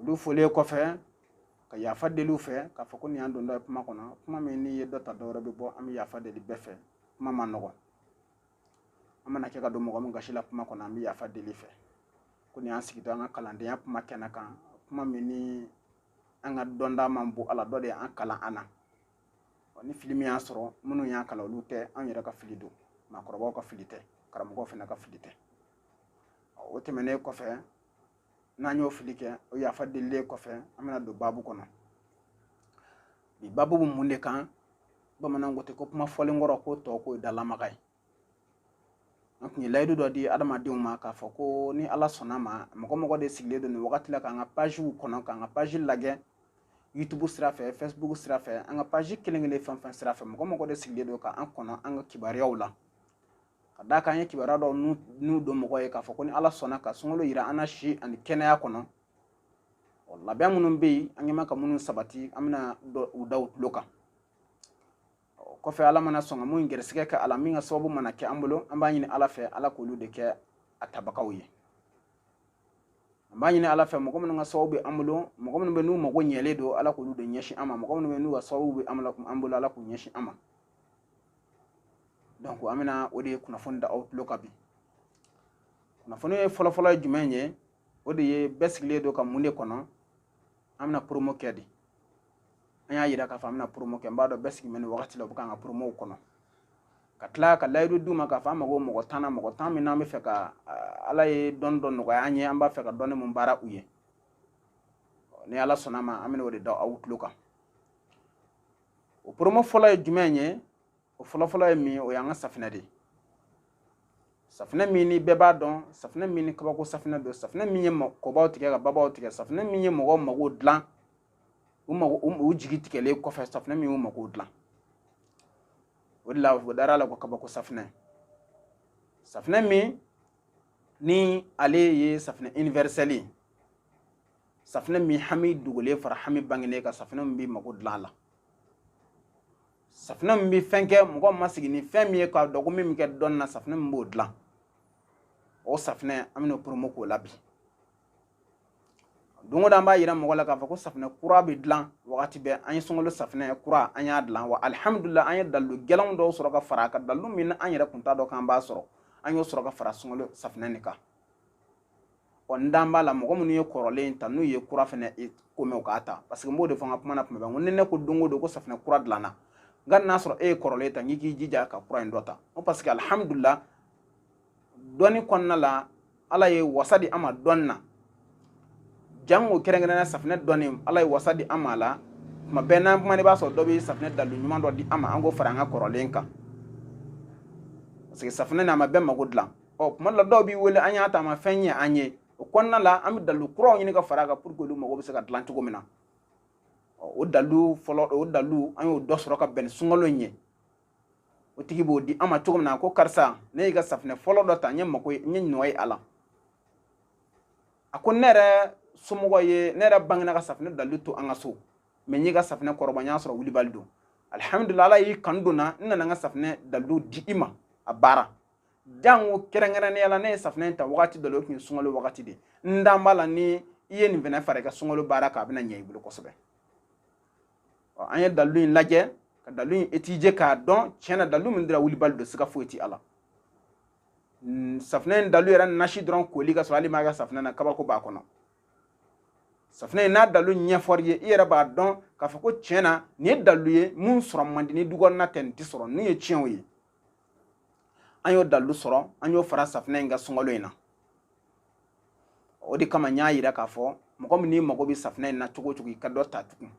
olu folen kɔfɛ ka yafa deli u fɛ k'a fɔ ko nin y'an dontɔ ye kuma kɔnɔ kuma min n'i ye dɔ ta dɔwɛrɛ bɛ bɔ an bɛ yafa deli bɛɛ fɛ kuma man nɔgɔn an mana kɛ ka don mɔgɔ min gasi la kuma kɔnɔ an bɛ yafa deli fɛ ko nin y'an sigitɔ an ka kalandenya kuma kɛnɛ kan kuma min ni an ka dɔnta man bon a la dɔ de y'an kalan an na ni fili min y'an sɔrɔ minnu y'an kalan olu tɛ an yɛrɛ ka fili don maakɔrɔbaw ka fili tɛ karamɔgɔw fana ka fili tɛ o tɛmɛnen kɔfɛ n'an y'o fili kɛ o yafa delilen kɔfɛ an bɛna don baabu kɔnɔ bi baabu bɛ mun de kan bamananw ko ten ko kuma fɔlen kɔrɔ ko tɔ k'o ye dalamaga ye an tun ye layidu dɔ di adamadenw ma k'a fɔ ko ni ala sɔnna ma mɔgɔ mɔgɔ de sigilen don nin wagati la k'an ka paziw kɔnɔ k'an ka pazi lajɛ youtube sira fɛ facebook sira fɛ an ka pazi kelen kelen fɛn fɛn sira fɛ mɔgɔ mɔgɔ de sigilen don k'an kɔnɔ an ka kibaruyaw la ka d'a kan an ye kibaruya dɔw n'u don mɔgɔ ye k'a fɔ ko ni ala sɔnna ka sunkalo yira an na si ani kɛnɛya kɔnɔ ɔ labɛn minnu bɛ yen an ɲɛma ka minnu sabati an bɛna u da u tulo kan ɔ kɔfɛ ala mana sɔn ka min gɛrɛsɛgɛ kɛ a la min ka sababu mana kɛ an bolo an b'a ɲini ala fɛ ala k'olu de kɛ a tabagaw ye an b'a ɲini ala fɛ mɔgɔ minnu ka sababu bɛ an bolo mɔgɔ minnu bɛ n'u mago ɲɛlen don ala k'olu de ɲɛsin an ma mɔgɔ minnu bɛ n'u ka sababu bɛ an bolo ala k'u ɲɛsin an ma donc an bɛna o de ye kunnafoni da aw tulo kan bi kunnafoni ye fɔlɔfɔlɔ ye jumɛn ye o de ye bɛɛ sigilen don ka mun de kɔnɔ an bɛna promo kɛ de an y'a yira k'a fɔ an bɛna promo kɛ n b'a dɔn bɛɛ sigilen bɛ nin wagati la u bɛ k'an ka promow kɔnɔ ka tila ka layidu d'u ma k'a fɔ an mago mɔgɔ tan na mɔgɔ tan min n'an b'a fɛ ka ala ye dɔnni dɔ nɔgɔya an ye an b'a fɛ ka dɔnni min baara u ye ni ala sɔnna ma an bɛna o de da aw tulo kan o promo fɔlɔ ye jumɛn ye o fɔlɔfɔlɔ ye min ye o y'an ka safinɛ de ye safinɛ min ni bɛɛ b'a dɔn safinɛ min ni kabako safinɛ don safinɛ min ye kɔbaw tigɛ ka babaw tigɛ safinɛ min ye mɔgɔw mago dilan u mago u jigi tigɛlen kɔfɛ safinɛ min y'u mago dilan o de la o dara a la ko kabako safinɛ safinɛ min ni ale ye safinɛ universelle ye safinɛ min hami dogolen fara hami bangenen kan safinɛ min bɛ mako dilan a la safinɛ min bɛ fɛn kɛ mɔgɔ ma sigi ni fɛn min ye k'a dɔn ko min bɛ kɛ dɔnni na safinɛ min b'o dilan o safinɛ an bɛna promo k'o la bi don o don an b'a yira mɔgɔ la k'a fɔ ko safinɛ kura bɛ dilan wagati bɛɛ an ye sunkalo safinɛ kura an y'a dilan wa alihamudulila an ye dalilu gɛlɛnw dɔw sɔrɔ ka fara a kan dalilu min ni an yɛrɛ kun t'a dɔn k'an b'a sɔrɔ an y'o sɔrɔ ka fara sunkalo safinɛ nin kan ɔ n dan b'a la mɔgɔ minnu ye kɔrɔlen ta n'u ye kura fɛnɛ ko mɛn u k'a ta parce que n b'o de fɔ n ka kuma na tuma bɛɛ ko ni ne ko don o don ko safinɛ kura dilanna nka n'a sɔrɔ e ye kɔrɔlen ta n k'i jija ka kura in dɔ ta ko parce que alihamudulila dɔnni kɔnɔna la ala ye wasa di an ma dɔnni na jango kɛrɛnkɛrɛnnenya safinɛ dɔnni ala ye wasa di an ma a la tuma bɛɛ n'an kumana i b'a sɔrɔ dɔ bɛ safinɛ dalilu ɲuman dɔ di an ma an k'o fara an ka kɔrɔlen kan parce que safinɛ n'a ma bɛɛ mago dilan ɔ tuma la dɔw b'i wele an y'a ta a ma fɛn ɲɛ an ye o kɔnɔna la an bɛ dalilu kuraw ɲini ka fara a kan pour que olu mago bɛ se ka dilan cogo min na o dalilu fɔlɔ o dalilu an y'o dɔ sɔrɔ ka bɛn ni sunkalo in ye o tigi b'o di an ma cogo min na ko karisa ne y'i ka safinɛ fɔlɔ dɔ ta n ye mako n ye nɔ ye a la a ko ne yɛrɛ somɔgɔ ye ne yɛrɛ bangena ka safinɛ dalilu to an ka so mais n y'i ka safinɛ kɔrɔbɔ n y'a sɔrɔ wulibali don alihamudulila ala y'i kanu don n na n nana n ka safinɛ dalilu di i ma a baara jango kɛrɛnkɛrɛnnenya la ne ye safinɛ in ta wagati dɔ la o tun ye sunkalo wagati de n dan b'a la ni i ye nin fɛnɛ fara i ka sunkalo baara kan a bɛna ɲɛ i bolo kosɛbɛ an ye dalilu in lajɛ ka dalilu in étudier k'a dɔn tiɲɛ na dalilu min dira wulibali don siga foyi ti a la safinɛ in dalilu yɛrɛ nasi dɔrɔn koli ka sɔrɔ hali i m'a kɛ safinɛ na kabako b'a kɔnɔ safinɛ n'a dalilu ɲɛfɔr'i ye i yɛrɛ b'a dɔn k'a fɔ ko tiɲɛ na nin ye dalilu ye min sɔrɔ man di ni dukɔnɔna tɛ nin tɛ sɔrɔ nin ye tiɲɛw ye an y'o dalilu sɔrɔ an y'o fara safinɛ in kan sunkalo in na o de kama n y'a yira k'a fɔ mɔgɔ min n'i mago bɛ safinɛ in na cogo cogo i ka dɔ ta tugun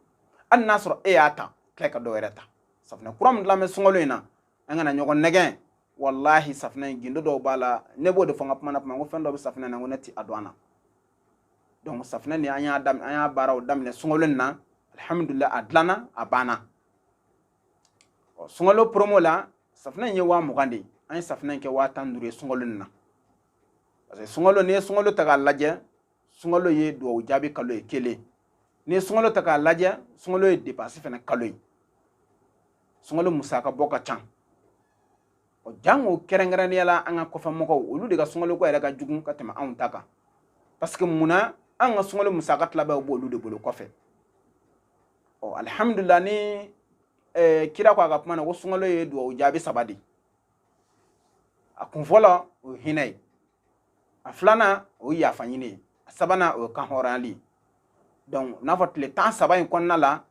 hali n'a sɔrɔ e y'a ta tila ka dɔ wɛrɛ ta safinɛ kura min dilannen bɛ sunkalo in na an kana ɲɔgɔn nɛgɛn walahi safinɛ in gindo dɔw b'a la ne b'o de fɔ n ka kuma na kuma ko fɛn dɔ bɛ safinɛ na ko ne ti a dɔn a na donc safinɛ nin an y'a daminɛ an y'a baaraw daminɛ sunkalo in na alhamdulilayi a dilanna a banna ɔ sunkalo promo la safunɛ in ye waa mugan de ye an ye safunɛ in kɛ waa tan duuru ye sunkalo nin na parce que sunkalo n'i ye sunkalo ta k'a lajɛ sunkalo ye duwawu jaabi kalo ye kelen n'i ye sunkalo ta k'a lajɛ sunkalo ye depansi fana kalo ye sunkalo musaka bɔ ka ca ɔ jango kɛrɛnkɛrɛnnenya la an ka kɔfɛ mɔgɔw olu de ka sunkaloko yɛrɛ ka jugu ka tɛmɛ anw ta kan parce que mun na an ka sunkalo musaka tilaba b'olu de bolo kɔfɛ ɔ alihamudulila ni ɛɛ eh, kira ko a ka kuma na ko sunkalo ye duwawu jaabi saba de a kun fɔlɔ o ye hinɛ ye a filanan o ye yafa ɲini ye a sabanan o ye kan hɔrɔnyali ye donc n'a fɔ tile tan saba in kɔnɔna la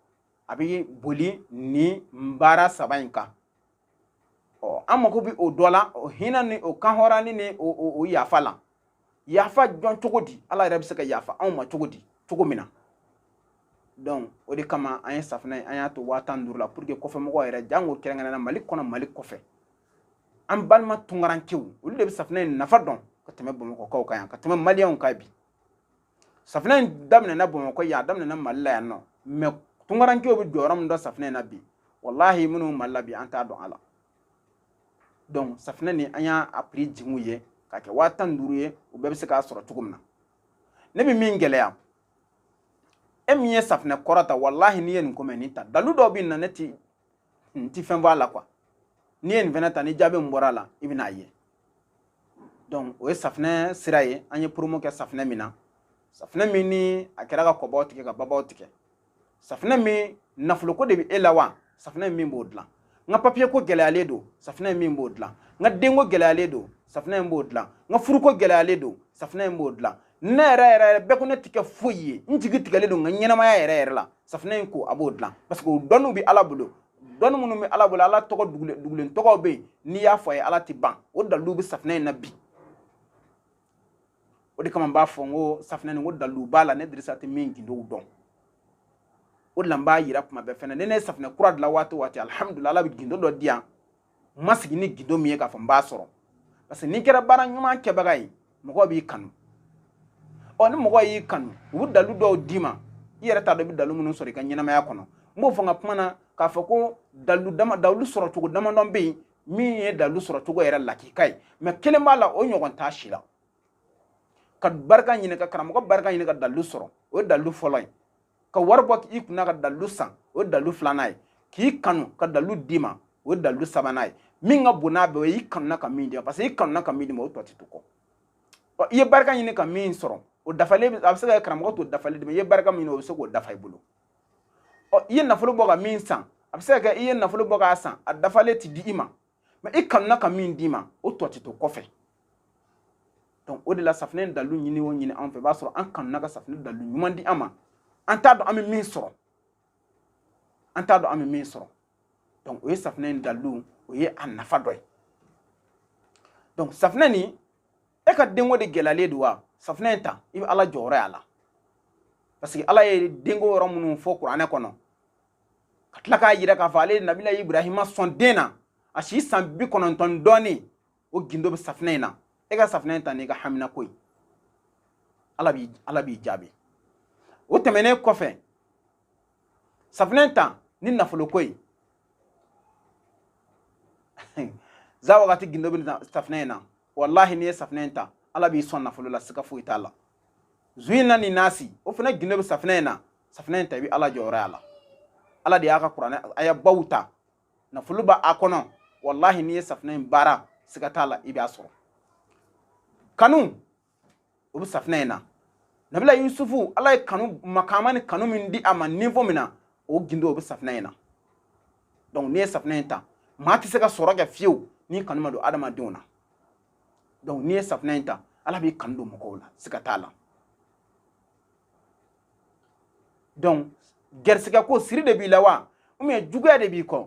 a bɛ boli ni baara saba in kan an mago bɛ o dɔ la o hinɛ ni o kanhɔrɔnni ni o yafa la yafa dɔn cogo di ala yɛrɛ bɛ se ka yafa anw ma cogo di cogo min na donc o de kama an ye safinɛ an y'a to waa tan duuru la pour que kɔfɛ mɔgɔ yɛrɛ janko kɛrɛnkɛrɛnna mali kɔnɔ mali kɔfɛ an balima tunkarankew olu de bɛ safinɛ in nafa dɔn ka tɛmɛ bamakɔkaw kan yan ka tɛmɛ maliyɛnw kan bi safinɛ in daminɛna bamakɔ yan a daminɛna mali la yan non mais tunkarankew bɛ jɔyɔrɔ min dɔn safinɛ in na bi walahi minnu mali la bi an t'a dɔn a la donc safinɛ nin an y'a a prix jigin u ye k'a kɛ waa tan ni duuru ye u bɛɛ bɛ se k'a sɔrɔ cogo min na ne bɛ min gɛlɛya e min ye safinɛ kɔrɔ ta walahi n'i ye nin ko mɛn nin ta dalu dɔw bɛ na ne ti n ti fɛn bɔ a la quoi n'i ye nin fɛnɛ ta ni jaabi min bɔra a la i bɛna a ye donc o ye safinɛ sira ye an ye promo kɛ safinɛ min na safinɛ min ni a kɛra ka kɔbaw tigɛ ka babaw tigɛ safinɛ min nafoloko de bɛ e la wa safinɛ in b'o dilan n ka papiye ko gɛlɛyalen don safinɛ in b'o dilan n ka denko gɛlɛyalen don safinɛ in b'o dilan n ka furuko gɛlɛyalen don safinɛ in b'o dilan ne yɛrɛ yɛrɛ yɛrɛ bɛɛ ko ne ti kɛ foyi ye n jigi tigɛlen don n ka ɲɛnamaya yɛrɛ yɛrɛ la safinɛ in ko a b'o dilan parce que o dɔnniw bɛ ala bolo dɔnni minnu bɛ ala bolo ala tɔgɔ dugulen dugulen tɔgɔw bɛ yen n'i y'a fɔ a ye ala tɛ ban o dalilu bɛ safinɛ in na bi o de kama n b'a fɔ n ko safinɛ nin ko dalilu b'a la ne dirisa tɛ min gindow dɔn o de la n b'a yira kuma bɛɛ fɛnɛ ni ne ye safinɛ kura dilan waati o waati alihamudulila ala bɛ gindo dɔ di yan n ma sigi ni gindo min ye k'a fɔ n b'a sɔrɔ parce que n'i kɛra baara ɲuman kɛbaga ye mɔgɔw b'i kanu ɔ ni mɔgɔw y'i kanu u bɛ dalu dɔw d'i ma i yɛrɛ t'a dɔn i bɛ dalu minnu sɔrɔ i ka ɲɛnamaya kɔnɔ n b'o fɔ n ka kuma na k'a fɔ ko dalu dama dalu sɔrɔ cogo damadɔ bɛ yen min ye dalu sɔrɔ cogo yɛrɛ lakika ye mais kelen b'a la o ɲɔgɔn t'a si la ka barika ɲini ka karamɔgɔ barika ɲini ka dalu sɔrɔ o ye dalu fɔlɔ ye ka wari bɔ k'i kunna ka dalilu san o ye dalilu filanan ye k'i kanu ka dalilu d'i ma o ye dalilu sabanan ye min ka bon n'a bɛɛ o ye i kanuna ka min d'i ma parce que i kanuna ka min d'i ma o tɔ ti to kɔ ɔ i ye barika ɲini ka min sɔrɔ o dafalen a bɛ se ka kɛ karamɔgɔ t'o dafalen d'i ma i ye barika min ɲini o bɛ se k'o dafa i bolo ɔ i ye nafolo bɔ ka min san a bɛ se ka kɛ i ye nafolo bɔ k'a san a dafalen ti di i ma mais i kanuna ka min d'i ma o tɔ tɛ to kɔfɛ donc o de la safinɛ dalilu ɲini o ɲini an fɛ i b'a sɔrɔ an kanuna ka safinɛ dalilu ɲuman di an ma an t'a dɔn an bɛ min sɔrɔ an t'a dɔn an bɛ min sɔrɔ donc o ye safinɛ in dalilu o ye a nafa dɔ ye donc safinɛ nin e ka denko de gɛlɛyalen don wa safinɛ in ta i bɛ ala jɔyɔrɔ y'a la parce que ala ye denko yɔrɔ minnu fɔ kuranɛ kɔnɔ ka tila k'a yira k'a fɔ ale nabila ibrahima sɔn den na a si san bi kɔnɔntɔn dɔɔni o gindo bɛ safinɛ in na e ka safinɛ in ta n'i ka hamina ko ye ala b'i jaabi o tɛmɛnen kɔfɛ safinɛ in ta ni nafolo ko ye za wagati gindo bɛ safinɛ in na walahi n'i ye safinɛ in ta ala b'i sɔn nafolo la siga foyi t'a la zu in na ni nasi o fana gindo bɛ safinɛ in na safinɛ in ta i bɛ ala jɔyɔrɔ y'a la ala de y'a ka kuranɛ aya baw ta nafolo b'a kɔnɔ walahi n'i ye safinɛ in baara siga t'a la i b'a sɔrɔ kanu o bɛ safinɛ in na nabila yusufu ala ye kanu makaama ni kanu min di a ma niveau min na o gindo o bɛ safinɛ in na donc n'i ye safinɛ in ta maa tɛ se ka sɔrɔ kɛ fiyewu n'i kanu ma don adamadenw na donc n'i ye safinɛ in ta ala b'i kanu don mɔgɔw la siga t'a la donc gɛrisigɛ ko siri de b'i la wa ou bien juguya de b'i kɔ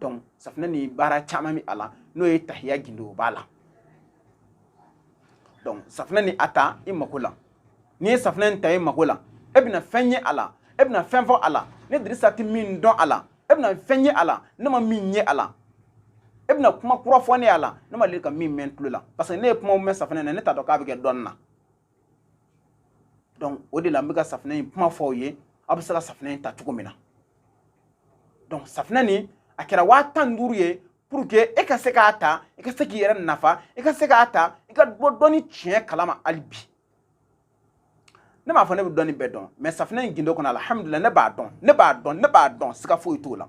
donc safinɛ ni baara caman bɛ a la n'o ye tahiya gindo o b'a la donc safinɛ ni a ta i mako la n'i ye safinɛ in ta i mako la e bɛna fɛn ye a la e bɛna fɛn fɔ a la ne dirisa tɛ min dɔn a la e bɛna fɛn ye a la ne ma min ye a la e bɛna kuma kura fɔ ne y'a la ne ma deli ka min mɛn tulo la parce que ne ye kumaw mɛn safinɛ na ne t'a dɔn k'a bɛ kɛ dɔnni na donc o de la n bɛ ka safinɛ in kuma fɔ aw ye aw bɛ se ka safinɛ in ta cogo min na donc safinɛ nin a kɛra waa tan ni duuru ye pour que e ka se k'a ta i ka se k'i yɛrɛ nafa i ka se k'a ta i ka bɔ dɔnni tiɲɛ kalama hali bi ne m'a fɔ ne bɛ dɔnni bɛɛ dɔn mais safinɛ in gindo kɔnɔ alihamudulila ne b'a dɔn siga foyi t'o la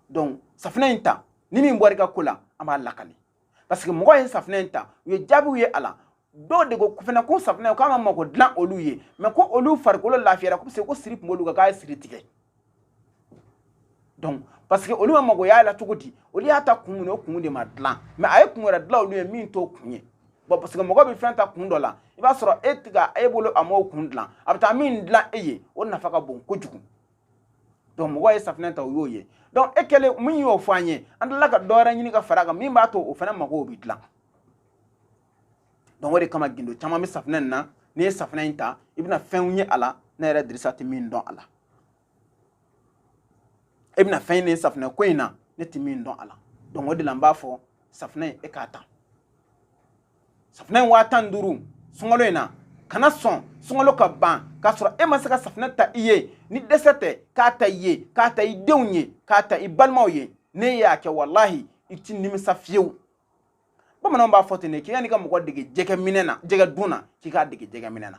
donc safinɛ in ta ni min bɔra i ka ko la an b'a lakali parce que mɔgɔ ye safinɛ in ta u ye jaabiw ye a la dɔw de ko fana ko safinɛ k'an ka mako dilan olu ye mais ko olu farikolo lafiyara ko ko siri tun b'olu kan k'a ye siri tigɛ donc parce que olu ma mago y'a la cogo di olu y'a ta kun min o kun de ma dilan mais a ye kun wɛrɛ dilan olu ye min t'o kun ye bon parce que mɔgɔ bɛ fɛn ta kun dɔ la i b'a sɔrɔ e tɛ ka e bolo a m'o kun dilan a bɛ taa min dilan e ye o nafa ka bon kojugu donc mɔgɔ ye safinɛ ta o y'o ye donc e kɛlen min y'o fɔ an ye an tilala ka dɔ wɛrɛ ɲini ka fara a kan min b'a to o fana mago bɛ dilan donc o de kama gindo caman bɛ safinɛ in na n'i ye safinɛ in ta i bɛna fɛnw ye a la ne yɛrɛ dirisa tɛ min dɔn a la e bɛna fɛn ɲini safinɛ ko in na ne tɛ min dɔn a la donc o de la n b'a fɔ safinɛ in e k'a ta safinɛ in waa tan ni duuru sunkalo in na kana sɔn sunkalo ka ban k'a sɔrɔ e ma se ka safinɛ ta i ye ni dɛsɛ tɛ k'a ta i ye k'a ta i denw ye k'a ta i balimaw ye n'i y'a kɛ walahi i ti nimisa fiyewu bamananw b'a fɔ ten de ko yan'i ka mɔgɔ dege jɛgɛ minɛ na jɛgɛ dun na k'i k'a dege jɛgɛ minɛ na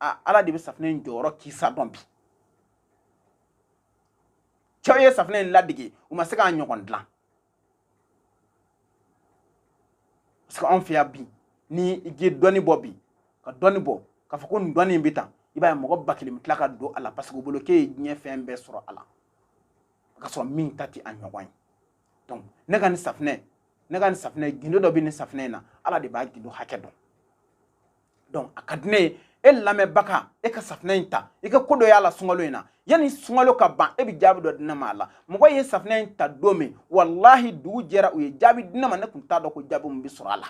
aa ala de bɛ safinɛ in jɔyɔrɔ kisa dɔn bi cɛw ye safinɛ in ladege u ma se k'a ɲɔgɔn dilan parce que anw fɛ yan bi ni i ye dɔnni bɔ bi ka dɔnni bɔ k'a fɔ ko nin dɔnni in bɛ tan i b'a ye mɔgɔ ba kelen bɛ tila ka don a la parce que u bolo k'e ye diɲɛ fɛn bɛɛ sɔrɔ a la ka sɔrɔ min ta tɛ a ɲɔgɔn ye donc ne ka nin safinɛ ne ka nin safinɛ gindo dɔ bɛ nin safinɛ in na ala de b'a gindo hakɛ dɔn donc a ka di ne ye e lamɛnbaga e ka safinɛ in ta i ka ko dɔ y'a la sunkalo in na yanni sunkalo ka ban e bɛ jaabi dɔ di ne ma a la mɔgɔ ye safinɛ in ta don min walahi dugu jɛra u ye jaabi di ne ma ne tun t'a dɔn ko jaabi min bɛ sɔrɔ a la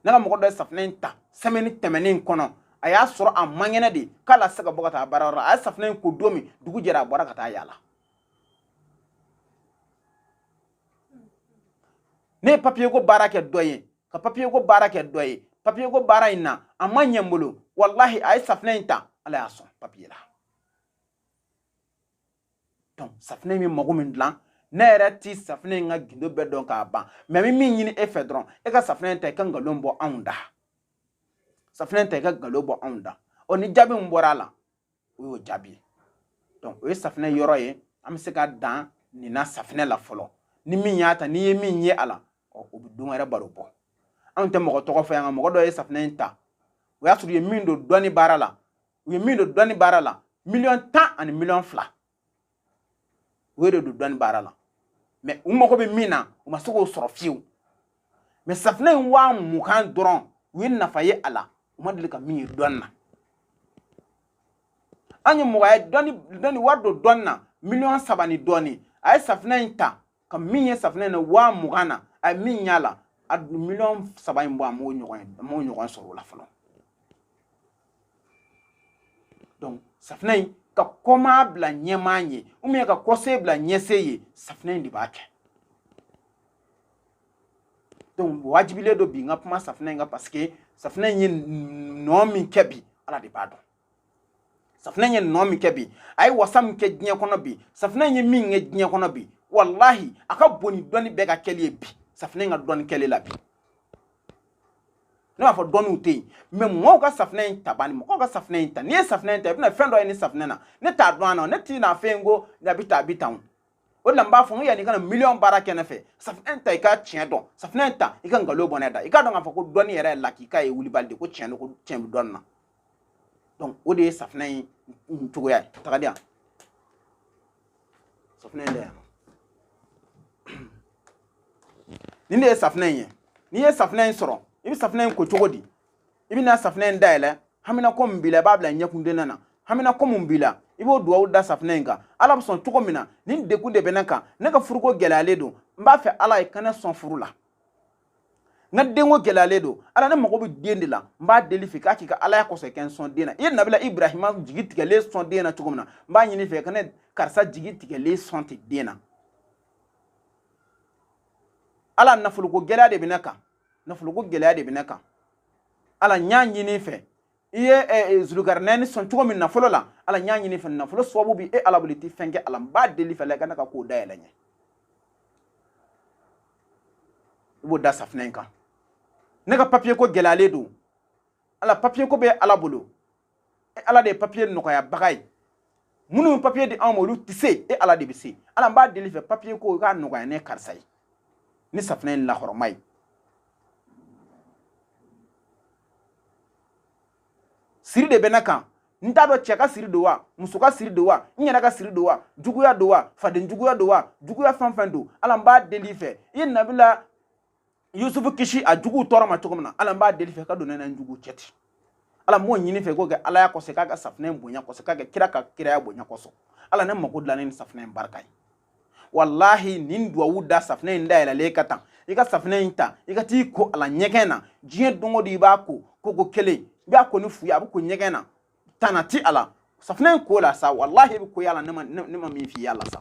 ne ka mɔgɔ dɔ ye safinɛ in ta semaine tɛmɛnen in kɔnɔ a y'a sɔrɔ a man kɛnɛ de k'ale se ka bɔ ka taa baarayɔrɔ la a ye safinɛ in ko don min dugu jɛra a bɔra ka taa yaala ne ye papiye ko baara kɛ dɔ ye ka papiye ko baara kɛ dɔ ye papiye ko baara in na a ma ɲɛ n bolo walahi a ye safinɛ in ta ala y'a sɔn papiye la donc safinɛ in bɛ mago min dilan ne yɛrɛ tɛ safinɛ in ka gindo bɛɛ dɔn k'a ban mais n bɛ min ɲini e fɛ dɔrɔn e ka safinɛ in ta i ka nkalon bɔ anw da safinɛ in ta i ka nkalon bɔ anw da ɔ ni jaabi min bɔra a la o y'o jaabi ye donc o ye safinɛ yɔrɔ ye an bɛ se ka dan nin na safinɛ la fɔlɔ ni min y'a ta n'i ye min ye a la ɔ o bɛ don wɛrɛ baro bɔ anw tɛ mɔgɔ tɔgɔ fɔ yan nka mɔgɔ dɔ ye safinɛ in ta o y'a sɔrɔ u ye min don dɔnni baara la u ye min don dɔnni baara la miliyɔn tan ani miliyɔn fila o de don dɔnni baara la mais u mago bɛ min na u ma se k'o sɔrɔ fiyewu mais safinɛ in waa mugan dɔrɔn u ye nafa ye a la u ma deli ka min ye dɔnni na an ye mɔgɔ ye dɔnni dɔnni wari don dɔnni na miliyɔn saba ni dɔɔni a ye safinɛ in ta ka min ye safinɛ in na waa mugan na a ye min y'a la a miliyɔn saba in bɔ a m'o ɲɔgɔn ye a m'o ɲɔgɔn sɔrɔ o la fɔlɔ donc safinɛ in ka kɔmaa bila ɲɛmaa ye ou bien ka kɔse bila ɲɛse ye safinɛ in de b'a kɛ donc wajibilen don bi n ka kuma safinɛ in kan parce que safinɛ in ye nɔ min kɛ bi ala de b'a dɔn safinɛ ye nɔ min kɛ bi a ye wasa min kɛ diɲɛ kɔnɔ bi safinɛ ye min kɛ diɲɛ kɔnɔ bi walahi a ka bon ni dɔnni bɛɛ ka kɛli ye bi safinɛ ka dɔnni kɛli la bi ne m'a fɔ dɔnniw tɛ yen mais mɔgɔw ka safinɛ in ta bani mɔgɔw ka safinɛ in ta n'i ye safinɛ in ta i bɛna fɛn dɔ ye nin safinɛ na ne t'a dɔn a na ne tɛn'a f'e ye ko a bɛ tan a bɛ tan o o de la n b'a fɔ n ko yanni i ka na miliyɔn baara kɛ ne fɛ safinɛ in ta i ka tiɲɛ dɔn safinɛ in ta i ka nkalon bɔ ne da i k'a dɔn k'a fɔ ko dɔnni yɛrɛ ye lakika ye wulibali de ko tiɲɛ don ko tiɲɛ bɛ dɔnni na donc o de ye safinɛ in cogoya ye taga di yan safinɛ in da yan nin de ye safinɛ in ye n'i ye safinɛ in sɔrɔ i bɛ safinɛ in ko cogo di i bɛ na safinɛ in dayɛlɛ haminako min b'i la i b'a bila ɲɛkundonna na haminako min b'i la i b'o duwawu da safinɛ in kan ala bɛ sɔn cogo min na nin degun de bɛ ne kan ne ka furuko gɛlɛyalen don n b'a fɛ ala i ka ne sɔn furu la n ka denko gɛlɛyalen don ala ne mago bɛ den de la n b'a deli fɛ k'a k'i ka alaya kɔsɔn ka n sɔn den na i ye nabila ibrahima jigi tigɛlen sɔn den na cogo min na n b'a ɲini fɛ ka ne karisa jigi tigɛlen sɔn ten den na ala nafoloko gɛlɛya de bɛ ne kan nafoloko gɛlɛya de bɛ ne kan ala n y'a ɲini fɛ i ye eh, eh, zulugarinɛni sɔn cogo min nafolo la ala n y'a ɲini fɛ nafolo sababu bɛ e ala bolo i tɛ fɛn kɛ ala n b'a deli fɛ ala i ka ne ka ko dayɛlɛ n ye i b'o da safinɛ in kan ne ka papiye ko gɛlɛyalen don ala papiye ko bɛ ala bolo e ala de ye papiye nɔgɔyabaga ye minnu ye papiye di anw ma olu tɛ se e ala de bɛ se ala n b'a deli fɛ papiye ko i k'a nɔgɔya ne karisa ye ni safinɛ in lahɔrɔma ye siri de bɛ ne kan n t'a dɔn cɛ ka siri don wa muso ka siri don wa n yɛrɛ ka siri don wa juguya don wa faden juguya don wa juguya fɛn fɛn don ala n b'a deli fɛ i ye nabila yusufu kisi a juguw tɔɔrɔ ma cogo min na ala n b'a deli fɛ ka don ne ni n juguw cɛ ten ala n b'o ɲini fɛ k'o kɛ alaya kɔsɔn k'a kɛ safinɛ in bonya kɔsɔn k'a kɛ kira ka kiraya bonya kɔsɔn ala ne mako dilan ni safinɛ in barika ye walahi nin duwawu da safinɛ in dayɛlɛlen kan tan i ka safinɛ in ta i ka t'i ko a la ɲɛgɛn na diɲɛ don o don i b'a ko koko kelen i b'a ko ni fu ye a bɛ ko ɲɛgɛn na tana t'a la safinɛ in ko la sa walahi i bɛ ko y'a la ne ma min f'i y'a la sa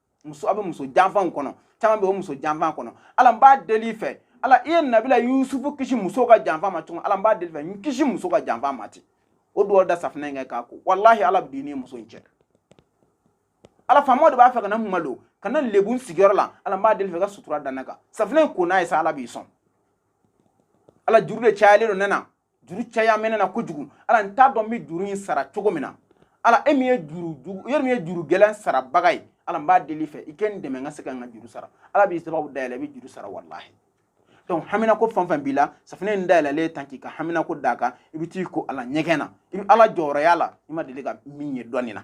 muso a bɛ muso janfaw kɔnɔ caman bɛ o muso janfa kɔnɔ ala n b'a deli fɛ ala i ye nabila yusufu kisi muso ka janfa ma cogo ala n b'a deli fɛ n kisi muso ka janfa ma ten o duwawu da safinɛ in kan k'a ko walahi ala bɛ don i ni muso in cɛ ala faamaw de b'a fɛ ka ne malo ka ne lebu n sigiyɔrɔ la ala n b'a deli fɛ ka sutura da ne kan safinɛ in ko n'a ye sa ala b'i sɔn ala juru de cayalen don ne na juru caya bɛ ne na kojugu ala n t'a dɔn n bɛ juru in sara cogo min na ala e min ye juru jugu e min ye juru gɛlɛn sarabaga ye ala n b'a deli fɛ i ka n dɛmɛ n ka se ka n ka juru sara ala b'i sababu dayɛlɛ i bɛ juru sara walahi donc haminako fɛn fɛn b'i la safinɛ in dayɛlɛlen tan k'i ka haminako d'a kan i bɛ t'i ko a la ɲɛgɛn na i bɛ ala jɔyɔrɔ y'a la i ma deli ka min ye dɔnni na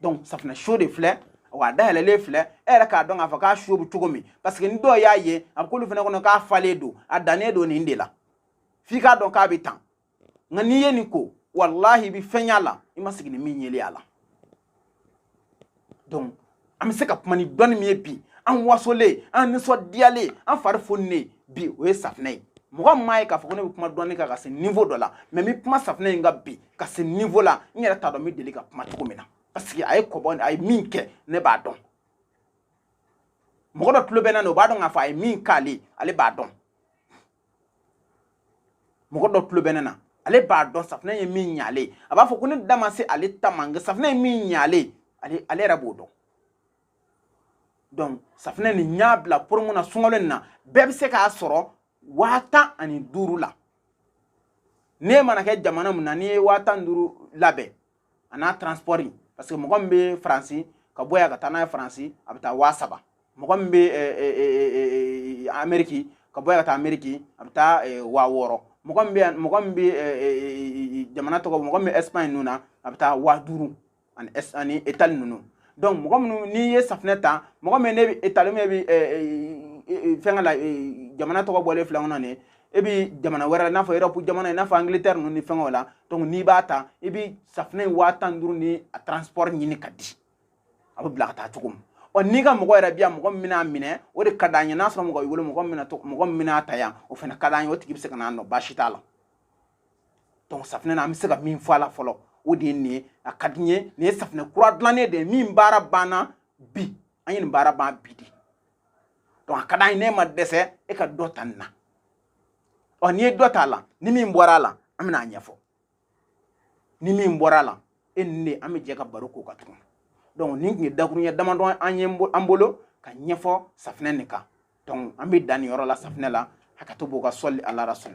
donc safinɛ so de filɛ wa a dayɛlɛlen filɛ e yɛrɛ k'a dɔn k'a fɔ k'a so bɛ cogo min parce que ni dɔw y'a ye a bɛ k'olu fana kɔnɔ k'a falen don a dannen don nin de la f'i k'a dɔn k'a bɛ tan nka n'i ye nin ko walahi i bɛ fɛn y'a la i ma sigi ni min yeli a la donc an bɛ se ka kuma ni dɔnni min ye bi an wasolen an nisɔndiyalen an fari foninen bi o ye safinɛ ye mɔgɔ min m'a ye k'a fɔ ko ne bɛ kuma dɔnni kan ka se niveau dɔ la mais n bɛ kuma safinɛ in kan bi ka se niveau la n yɛrɛ t'a dɔn n bɛ deli ka kuma cogo min na parce que a ye kɔbɔ a ye min kɛ ne b'a dɔn mɔgɔ dɔ tulo bɛ n na o b'a dɔn k'a fɔ a ye min k'ale ale b'a dɔn mɔgɔ dɔ tulo bɛ ne na ale b'a dɔn safinɛ ye min ɲ'ale a b'a fɔ ko ne da ma se ale ta ma nka safinɛ ye min ɲ'ale ale yɛrɛ b'o dɔn donc safinɛ nin n y'a bila promo na sunkalo nin na bɛɛ bɛ se k'a sɔrɔ waa tan ani duuru la ne mana kɛ jamana min na n'i ye waa tan ni duuru labɛn a n'a transport parce que mɔgɔ min bɛ faransi ka bɔ yan ka taa n'a ye faransi a bɛ taa waa saba mɔgɔ min bɛ ameriki ka bɔ yan ka taa ameriki a bɛ taa waa wɔɔrɔ mɔgɔ min bɛ mɔgɔ min bɛ jamana tɔgɔ mɔgɔ min bɛ ɛsipaɲi ninnu na a bɛ taa waa duuru ani s ani itali ninnu donc mɔgɔ minnu n'i ye safinɛ ta mɔgɔ minnu bɛ itali min bɛ fɛnkɛ la jamana tɔgɔ bɔlen filɛ kɔnɔ ni e bɛ jamana wɛrɛ la i n'a fɔ erɔpu jamana i n'a fɔ angilitɛri ninnu ni fɛnkɛw la donc n'i b'a ta i bɛ safinɛ in waa tan duuru ni a transport ɲini ka di a bɛ bila ka taa cogo min ɔ n'i ka mɔgɔ yɛrɛ bi yan mɔgɔ min bɛna minɛ o de ka d'an ye n'a sɔrɔ mɔgɔ b'i bolo mɔgɔ min bɛna to mɔgɔ min bɛna ta yan o fana ka d'an ye o tigi bɛ se ka n'a nɔ baasi t'a la donc safinɛ na an bɛ se ka min fɔ a la fɔlɔ o de ye nin ye a ka di n ye nin ye safinɛ kura dilannen de ye min baara banna bi an ye nin baara ban bi de donc a ka d'an ye n'e ma dɛsɛ e ka dɔ ta nin na ɔ n'i ye dɔ ta a la ni min bɔra a la an bɛna a ɲɛfɔ ni min bɔra a la e ni ne an bɛ jɛ ka baro k'o kan tuguni donc nin tun ye dakuruɲɛ damadɔw ye an bolo ka ɲɛfɔ safinɛ nin kan donc an bɛ dan nin yɔrɔ la safinɛ la hakɛto b'o kan sɔli ala rasul